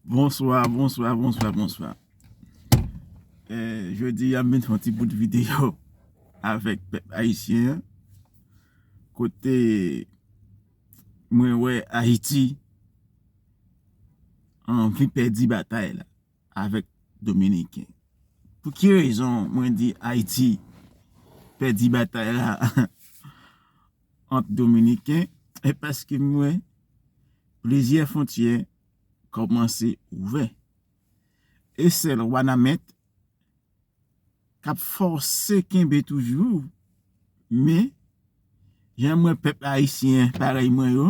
Bonswa, bonswa, bonswa, bonswa Jodi a m vin fè yon ti bout videyo avèk pèp ayisyen kote mwen wè Ayiti anvi pèdi batay la avèk dominiken pou ki rezon mwen di ayiti pèdi batay la ant dominiken e paske m wè plizyè fontyè kòmanse ouvè e sèl wanament k ap fòse kenbe toujou, men, jan m wè pèp ayisyen parèy mwen yo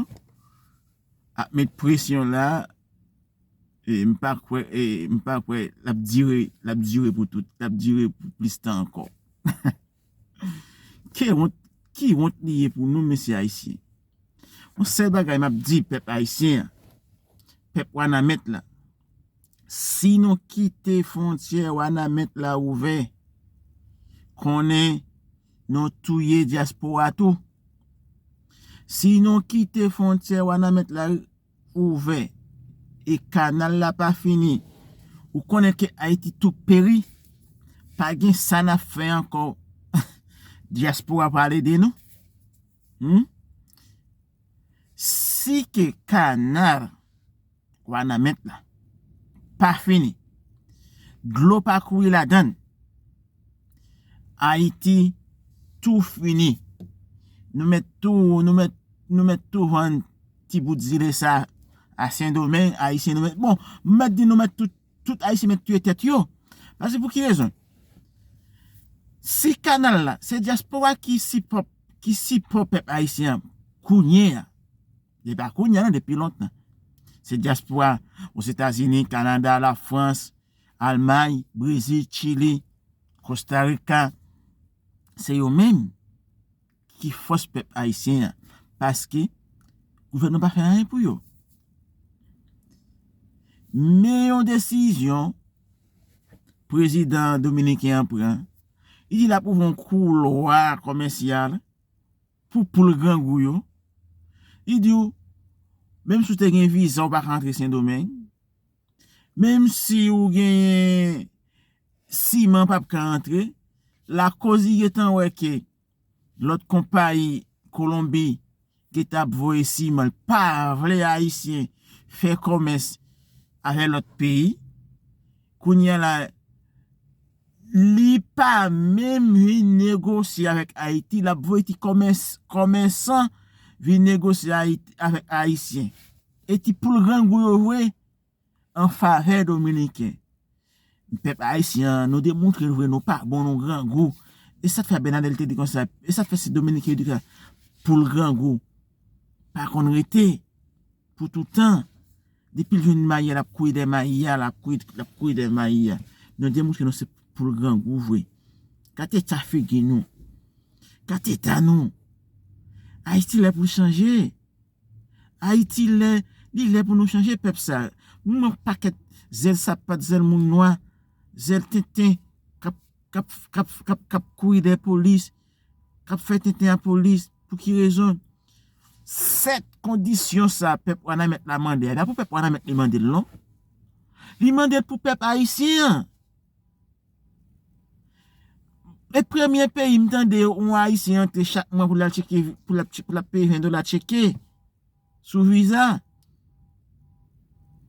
ap met presyon la, m pa kwè l ap dire pou tout, l ap dire pou plis tan ankò. Ke wont, ki wont li ye pou nou mesye Ayisyen? Yon sèl bagay map di pèp Ayisyen an, pèp Wanament la, si nou kite fontyè Wanament la ouvè, konnen nou touye dyaspora tou. Si nou kite fontyè Wanament la. ouvè e kanal la pa fini ou konnen ke ayiti tou peri pa gen sa nap fè ankò diaspora pral ede nou humm si ke kanal wanament la pa fini dlo pa kouri ladann ayiti tou fini nou mèt tou nou mèt tou vann ti bout zile sa a sendomeng ayisyen nou mèt bon m mèt di nou mèt tout tout ayisyen mèt tiye tèt yo pase pou ki rezon si kanal la se diaspora ki sipò ki sipò pèp ayisyen an kounye a se pa kounye a nan depi lontan se diaspora ozetazini kanada la frans almay brezil chili kostarika se yo menm ki fòs pèp ayisyen an paske gouvènman pa fè anyen pou yo men yon desizyon prezidan dominiken an pran li di lap ouvri yon koulwa komèsyal pou poul grangou yo li di ou menm si ou te gen viza ou pa ka antre sendomeng menm si ou gen siman pap ka antre lakoz li gentan wè ke Lot konpayi kolonbi ki tap voye siman pa vle ayisyen fè komès avè lot peyi kounya la li pa menm vin negosye avèk ayiti lap voye ti komès komèsan vin negosye avèk ayisyen e ti poul grangou yo vre an favè dominiken. Pèp ayisyen an nou demontre l vre nou pa bon nou grangou e sa k fè Abinader te di konsa e sa k fè se dominiken yo di konsa pou l grangou pa konn rete pou toutan depi l jwenn mayi a l ap kouye dèyè mayi a l ap kouye dèyè mayi a nou demontre nou se pou l grangou vre kat eta figi nou kat eta nou ayiti lè pou l chanje. Ayiti lè li lè pou nou chanje pèp sa nou nan pakèt zèl sapat zèl moun nwa zèl tenten kap kap kap kap kap kouri dèyè polis kap fè tenten a polis pou ki rezon 7 kondisyon sa pèp wanamèt la mande a e pa pou pèp wanamèt li mandel non li mandel pou pèp ayisyen an E premye peyi m tande yon ayisyen antre chak mwa pou l al tcheke pou l ap peye 20 dola tcheke sou viza.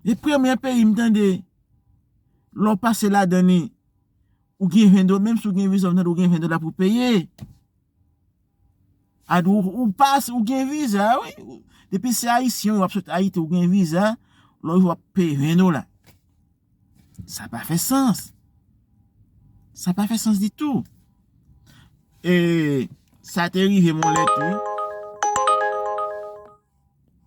E premye peyi m tande lè w pase ladan li ou gen 20 dola menm si w gen viza ou gen 20 dola pou peye. Ou pase ou gen viza wi depi se ayisyen w ap sot ayiti ou gen viza lè w rive w ap peye 20 dola. Sa pa fè sans. Sa pa fè sans ditou. E sa te rive m yon lè tou.